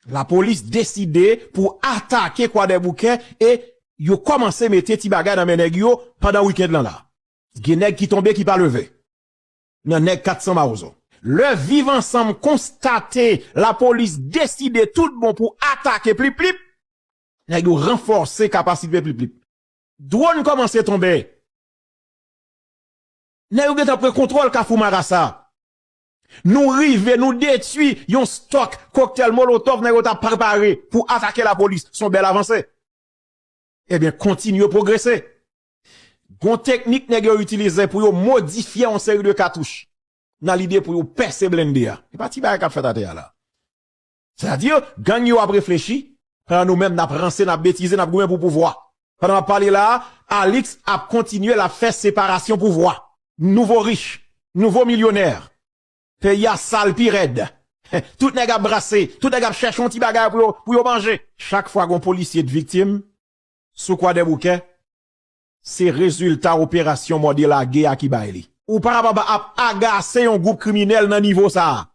Lapolis deside pou atake kwadèboukè e yo kòmanse mete ti bagay nan men nèg yo pandan wikend lan la. Gen nèg ki tonbe ki pa leve nan nèg 400 mawozo. Lè viv ansanm konstate lapolis deside tout bon pou atake plip plip, nèg yo ranfòse kapasite plip plip. Dwòn kòmanse tonbe. Nèg yo gentan pran kontwòl kafou marasa. Nou rive, nou detui yon stòk koktèl molotòv nèg yo t ap prepare pou atake lapolis. S on bèl avanse. Ebyen, kontin yo pwogrese. Gon teknik nèg yo itilize pou yo modifye yon seri de katouch nan lide pou yo pèse blende a. Se pa ti bagay k ap fèt atè a la. Sè a di yo, gang yo ap reflechi, pandan nou menm nap ranse, nap betize, nap goumen pou pouvwa. Pandan map pale la a, Alix ap kontinye lap fè separasyon pouvwa. Nouvo rich, nouvo milyonè. Peyi a sal pi rèd. Tout nèg ap brase, tout nèg ap chèche yon ti bagay pou yo manje. Chak fwa gon polisye t viktim sou kwadèboukè, se rezilta operasyon mòde lage a ki bay li. Ou pa kapab ap agase yon gwoup kriminèl nan nivo sa a.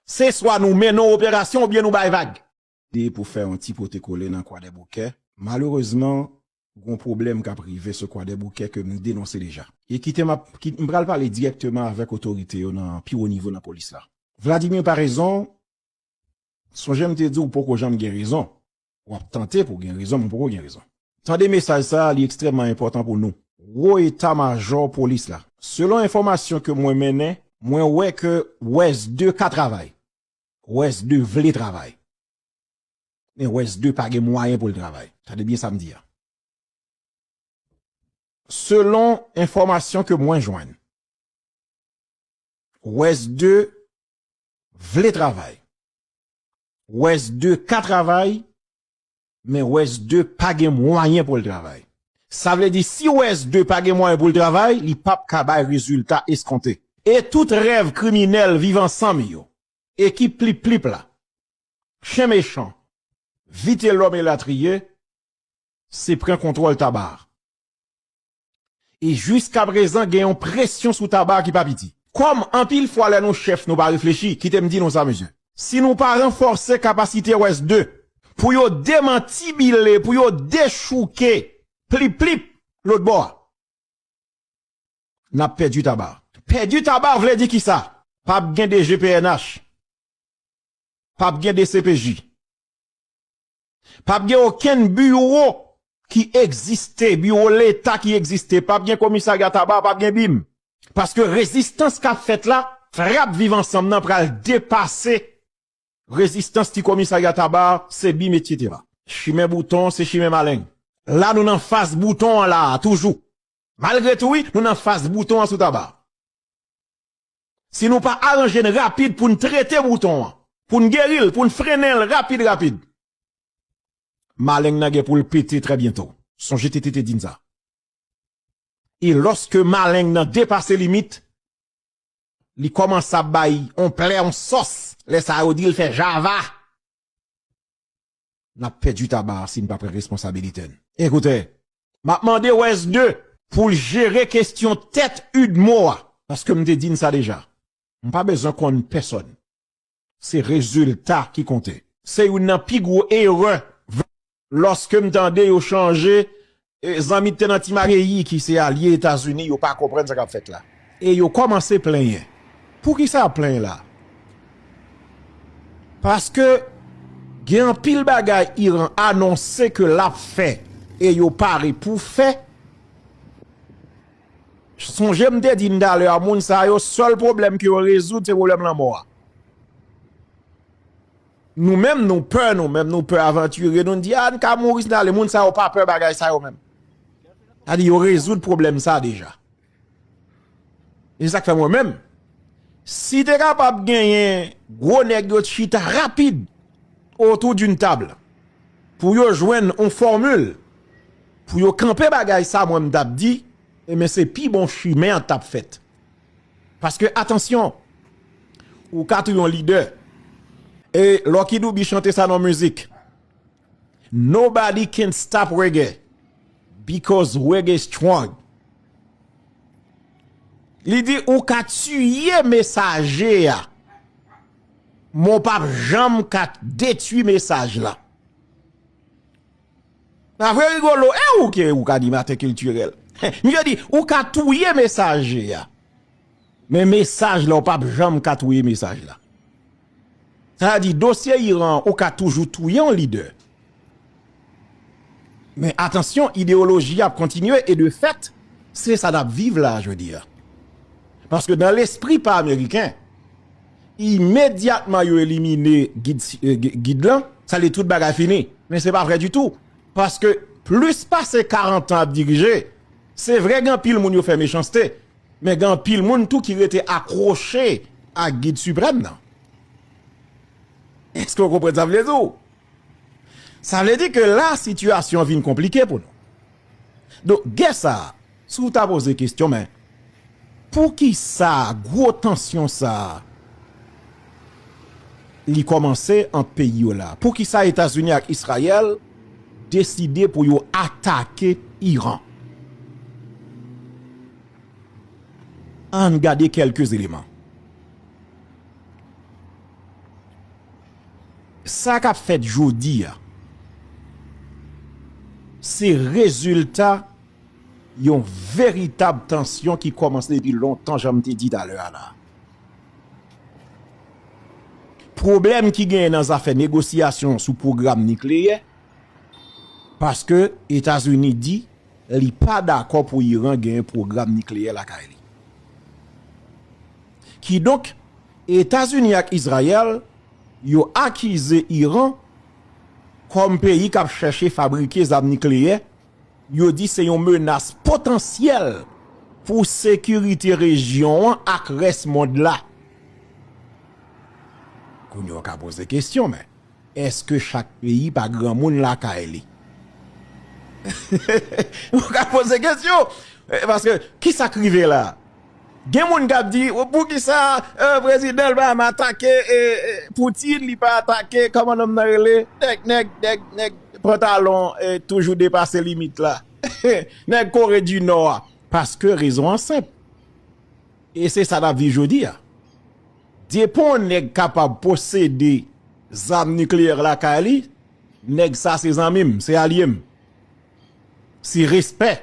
Se swa nou mennen yon operasyon oubyen nou bay vag. Deye pou fè yon ti pote kole nan Kwadèboukè. Malerezman, gon pwoblèm k ap rive sou Kwadèboukè ke m denonse deja. E kite m ap, m pral pale dirèkteman avèk otorite yo nan pi wo nivo nan polis la. Vladimir Paraison, sonje m te di w poko janm gen rezon. Wap tante pou gen rezon men ou poko gen rezon. Tande mesaj sa a li ekstrèmman enpòtan pou nou. Wo eta majò polis la. Selon enfòmasyon ke mwen mennen, mwen wè ke Wes 2 ka travay. Wes 2 vle travay. Men Wes 2 pa gen mwayen pou l travay. Tande byen sa m di a. Selon enfòmasyon ke mwen jwenn, Wes 2 vle travay. West 2 ka travay, men West 2 pa gen mwayen pou l travay. Sa vle di si West 2 pa gen mwayen pou l travay, li pap ka bay rezilta eskonte. E tout rèv kriminèl Viv Ansanm yo, ekip Plip Plip la, Chen Mechan, Vitelòm elatriye, se pran kontwòl Tabarre. E jiska prezan gen yon presyon sou taba ki pa piti. Kòm anpil fwa lè nou chèf nou pa reflechi, kite m di nou sa mesye. Si nou pa ranfòse kapasite rès de pou yo demantibile, pou yo dechouke plip plip lòt bò a, n ap pèdi taba. Pèdi taba vle di kisa? P ap gen de gpnh, p ap gen de cpj. p ap gen okenn biwo ki egziste, biwo leta ki egziste, p ap gen komisarya taba, p ap gen bim. Paske rezistans k ap fèt la, trap viv ansanm nan pral depase rezistans ti komisarya taba, se bim etc. Chimen bouton se chimen maleng. La nou nan fas bouton an la a toujou. Malgre tou wi, nou nan fas bouton an sou taba. Si nou pa aranje n rapid pou n trete bouton an, pou n geri l, pou n frennen l rapid rapid, maleng nan gen pou l pete trè byento. Sonje TT te di n sa. E lòske maleng nan depase limit, li kòmanse ap bay on plè, on sòs, lè sa yo di l fè java. n ap pèdi taba a si n pa pran responsabilite n. Ekoute, m ap mande West-2 pou l jere kesyon tèt udmo a, paske m te di n sa deja, m pa bezwen konn pèsòn, se rezilta ki konte. Se youn nan pi gwo erè, lòske m tande yo chanje Zanmi te nan ti ma. Peyi ki se alye Etazini yo pa konprann sa k ap fèt la e yo kòmanse plenyen. Poukisa y ap plenyen la a? Paske gen anpil bagay Iran anonse ke l ap fè e yo pare pou fè. Sonje m te di n talè a moun sa yo sèl pwoblèm ke yo rezoud se pwoblèm lanmò a. Nou menm nou pè nou menm nou pè avanture nou di a n ka mouri si n ale moun sa yo pa pè bagay sa yo menm sa di yo rezoud pwoblèm sa deja e se sak fè mwen menm si te kapab genyen gwo nèg yo t chita rapid otou di n tab pou yo jwenn on fòmil pou yo kanpe bagay sa mwen m tap di e men se pi bon chimen an tap fèt. Paske atansyon ou ka tou yon lidè e Lucky Dube chante sa nan yon mizik Nobody can stop reggae because reggae strong li di ou ka tiye mesaje a men w pap janm ka detwi mesaj la. Pa vre Rigolo e ou ki ou k animatè kiltirèl? Misye di ou ka touye mesaje a men mesaj la ou pap janm ka touye mesaj la. Sa a di dosye Iran an ou ka toujou touye yon lidè men atansyon ideyoloji ap kontinye e de fèt se sa n ap viv la a jodi a. Paske nan lespri pa ameriken. Imedyatman yo elimine gid lan, sa vle di tout bagay fini. Men se pa vre ditou. Paske plis pase 40 an ap dirije, se vre gen anpil moun yo fè mechanste, men gen anpil moun tou ki rete akwoche ak gid siprèm nan. Eske ou konprann sa m vle di ou? Sa vle di ke la sitiyasyon vin konplike pou nou. Donk gè sa, si w ta poze kestyon men poukisa gwo tansyon sa li kòmanse ant peyi yo la? Poukisa Etazini ak Israyèl deside pou yo atake Iran? Ann gade kèlke eleman. Sa kap fèt jodi a, se rezilta yon veritab tansyon ki kòmanse depi lontan jan m te di talè a la. Pwoblèm ki genyen nan zafè negosyasyon sou pwogram nikleyè, paske Etazini di li pa dakò pou Iran genyen pwogram nikleyè lakay li. Kidonk. Etazini ak Izrayèl yo akize Iran kòm peyi kap chèche fabrike zam nikleyè, yo di se yon menas potansyèl pou sekirite rejyon an ak rès mond la. Kounye a w ka poze kesyon men. Eske chak peyi pa granmoun lakay li? Ou ka poze kesyon. Paske kisa k rive la? Gen moun kap di poukisa prezidan Obama atake Poutine li pa atake kòman nonm nan rele nèg pantalon toujou depase limit la nèg Kore di Nò a. Paske rezon an senp. E se sa n ap viv jodi a. Depi yon nèg kapab posede zam nikleyè lakay li, nèg sa se zanmi m, se alye m. Se respè.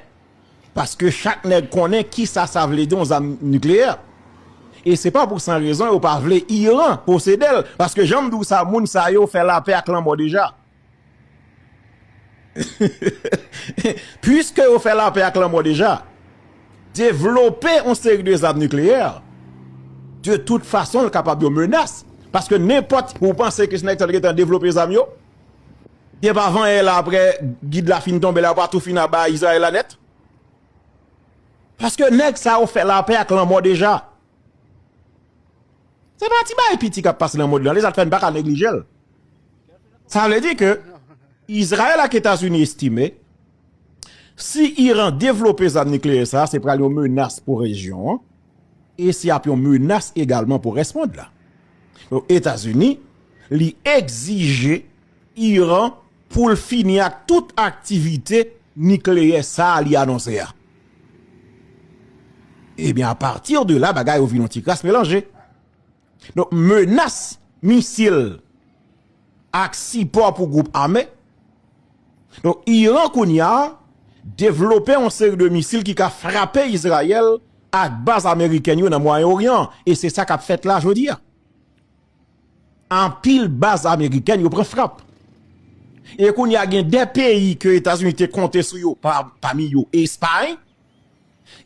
Paske chak nèg konnen ki sa sa vle di yon zam nikleyè. E se pa pou san rezon yo pa vle Iran posede l. Paske jan m di w sa moun sa yo fè lapè ak lanmò deja. Puiske yo fè lapè ak lanmò deja, devlope yon seri de zam nikleyè de tout fason l kapab yon menas paske nenpòt ou panse ke si nèg sa yo te gentan devlope zam yo gen pa vanyan la aprè gid la fin tonbe la yo pa tou fin aba Izrayèl la nèt paske nèg sa yo fè lapè ak lanmò deja se pa ti bagay piti k ap pase nan mond lan li sa k fè n pa ka neglije l. Sa vle di ke Izrayèl ak Etazini estime si Iran devlope zam nikleyè sa, se pral yon menas pou rejyon an e se ap yon menas egalman pou rès mond la. Donk Etazini li egzije Iran pou l fini ak tout aktivite nikleyè sa li anonse a. Ebyen a pati de la bagay yo vin yon ti kras melanje. Donk menas misil ak sipò pou gwoup ame. Donk Iran kounye a devlope yon seri de misil ki ka frape Izrayèl ak baz amerikèn yo nan Mwayen Oryan. E se sa kap fèt la jodi a. Anpil baz amerikèn yo pran frap. E kounye a gen de peyi ke Etazini te konte sou yo pami yo Espay.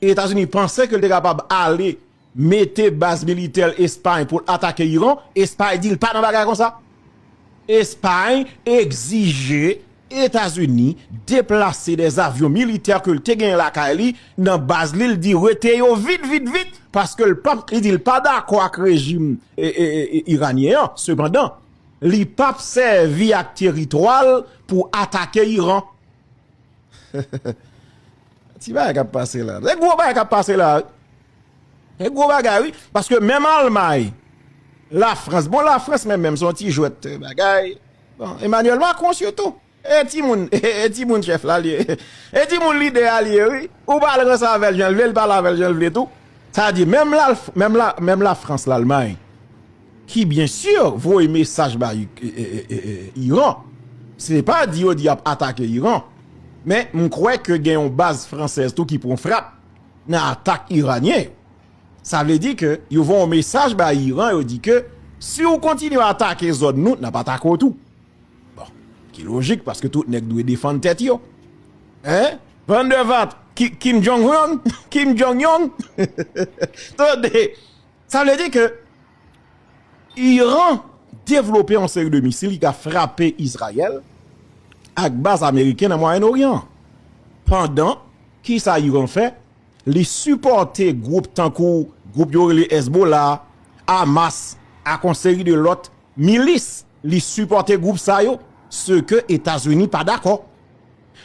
Etazini panse ke l te kapab ale mete baz militè l Espay pou l atake Iran, Espay di l pa nan bagay konsa. Espay egzije Etazini deplase de avyon militè ke l te genyen lakay li nan baz li, li di rete yo vit vit vit paske l pa li di l pa dakò ak rejim Iranyen an. Sepandan, li pap sèvi ak teritwa l pou atake Iran. Ti bagay kap pase la. Se gwo bagay kap pase la. Se gwo bagay wi. Paske menm almay. La frans. Bon la frans menm menm. Son ti jwet bagay. Bon Emmanuel Macron sou tou. E ti moun. E ti moun chef la li. E ti moun lide a li wi. Ou pa al ranse avel janl vle. Li pa al avel janl vle tou. Sa di menm la frans la almay. ki byen sur voye mesaj ba Iran, se te pa di yo di yap atake Iran, men m kwè ke gen yon baz fransèz tou ki pran frap nan atak iranyen yo. Sa vle di ke yo voye yon mesaj ba Iran yo di ke si ou kontinye atake zòn nou, nap atake w tou. Bon, ki lojik paske tout nèg dwe defann tèt yo. Hein? Van de vat, Kim Jong-un, Kim Jong-yong, tande! Sa vle di ke Iran devlope yon seri de misil ki ka frape Izrayèl ak baz Ameriken nan Mwayen Oryan. Pandan, ki sa Iran fè? Li sipòte gwoup tankou gwoup yo rele Ezbola, Amas ak yon seri de lòt milis. Li sipòte gwoup sa yo, se ke Etazini pa dakò.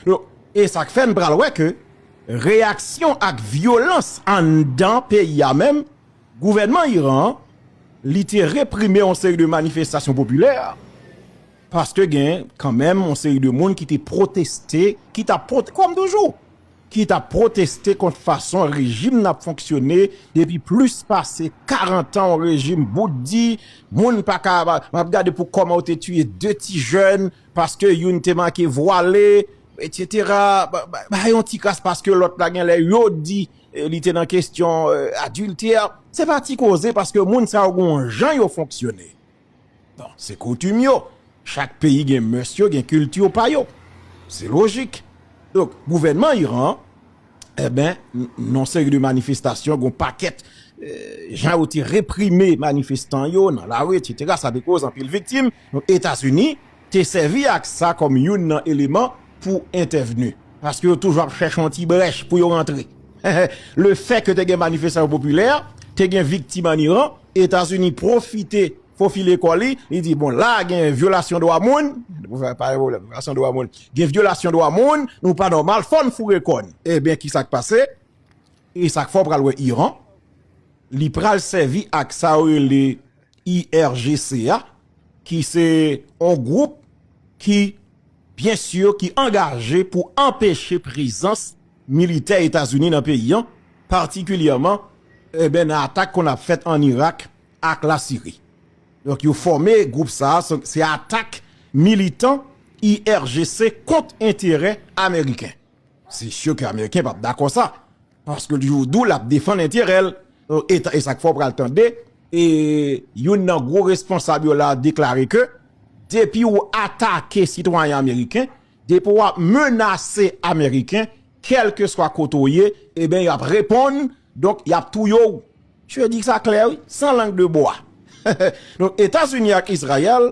Donk, e sa k fè n pral wè ke reyaksyon ak vyolans anndan peyi a menm, gouvènman Iran an, li te reprime yon seri de manifestasyon popilè, paske gen kan menm yon seri de moun ki te pwoteste, ki t ap pwoteste, kòm toujou, ki t ap pwoteste kont fason rejim nan ap fonksyone depi plis pase 40 an, yon rejim bout di, moun pa ka, m ap gade pou kòman yo te tiye 2 ti jèn. Paske youn te make vwale, etc. Ba yon ti kras paske lòt la gen lè yo di li te nan kestyon adiltè. Se pa ti koze paske moun sa yo gon jan yo fonksyone. Bon, se koutim yo. Chak peyi gen mœurs yo, gen culture pa yo. Se lojik. Donk, gouvènman Iran an, enben, nan seri de manifestasyon, gon pakèt jan yo te reprime manifestan yo nan lari, etc. Sa te koz anpil viktim. Etazini te sèvi ak sa kòm youn nan eleman pou entèvni, paske yo toujou ap chèche yon ti brèch pou yo rantre. Lefè ke te gen manifestasyon popilè, te gen viktim an Iran, Etazini pwofite fofile kò li, li di, bon la a gen vyolasyon dwa moun, gen vyolasyon dwa moun, nou pa nòmal, fò n foure kò n. Enben ki sa k pase? E sa k fè w pral wè Iran, li pral sèvi ak sa yo rele. IRGC a ki se yon gwoup ki byen sur ki angaje pou anpeche prezans militè Etazini nan peyi an, patikilyèman nan atak konn ap fèt an Irak ak la Siri. Donk yo fòme gwoup sa a, se atak militan IRGC kont enterè ameriken. Se sur ke Ameriken pap dakò sa. Paske l jou dou lap defann enterè l. E sak fè w pral tande youn nan gwo responsab yo la deklare ke depi w atake sitwayen Ameriken, depi wap menase Ameriken, kelke swa kote w ye, eben yo ap reponn, donk yap touye w. Msye di sa klè wi, san lang de bwa. Donk Etazini ak Izrayèl.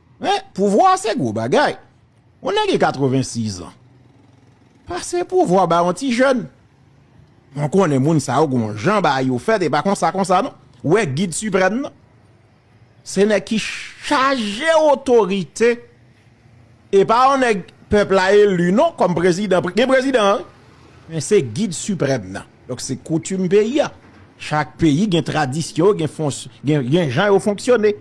Men, pouvwa se gwo bagay. Yon nèg gen 86 ans, pase pouvwa ba yon ti jèn. Mwen konnen moun sa yo gen yon jan bagay yo fèt e pa konsa konsa non. Ou wè gid siprèm nan? Se nèg ki chaje otorite e pa yon nèg pèp la eli non kòm prezidan. Gen prezidan wi, men se gid siprèm nan. Donk se koutim peyi a. Chak peyi gen tradisyon yo, gen fons, gen jan yo fonksyone.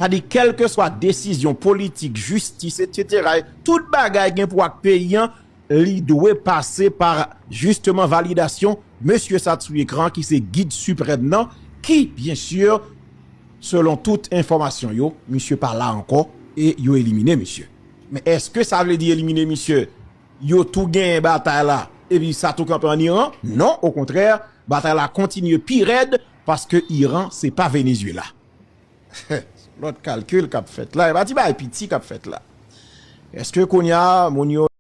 Sa di kèlkeswa desizyon politik, jistis etc. Tout bagay gen pou wè ak peyi an, li dwe pase pa jisteman validasyon mesye sa t sou ekran an ki se gid siprèm nan ki byen sur selon tout enfòmasyon yo misye pa la ankò e yo elimine misye. Men èske sa vle di elimine misye Yo tou genyen batay la epi sa tou kanpe an Iran? Non, okontrè, batay la kontinye pi rèd paske Iran se pa Venezuela. Son lòt kalkil k ap fèt la, e pa ti bagay piti k ap fèt la. Èske kounye a moun yo.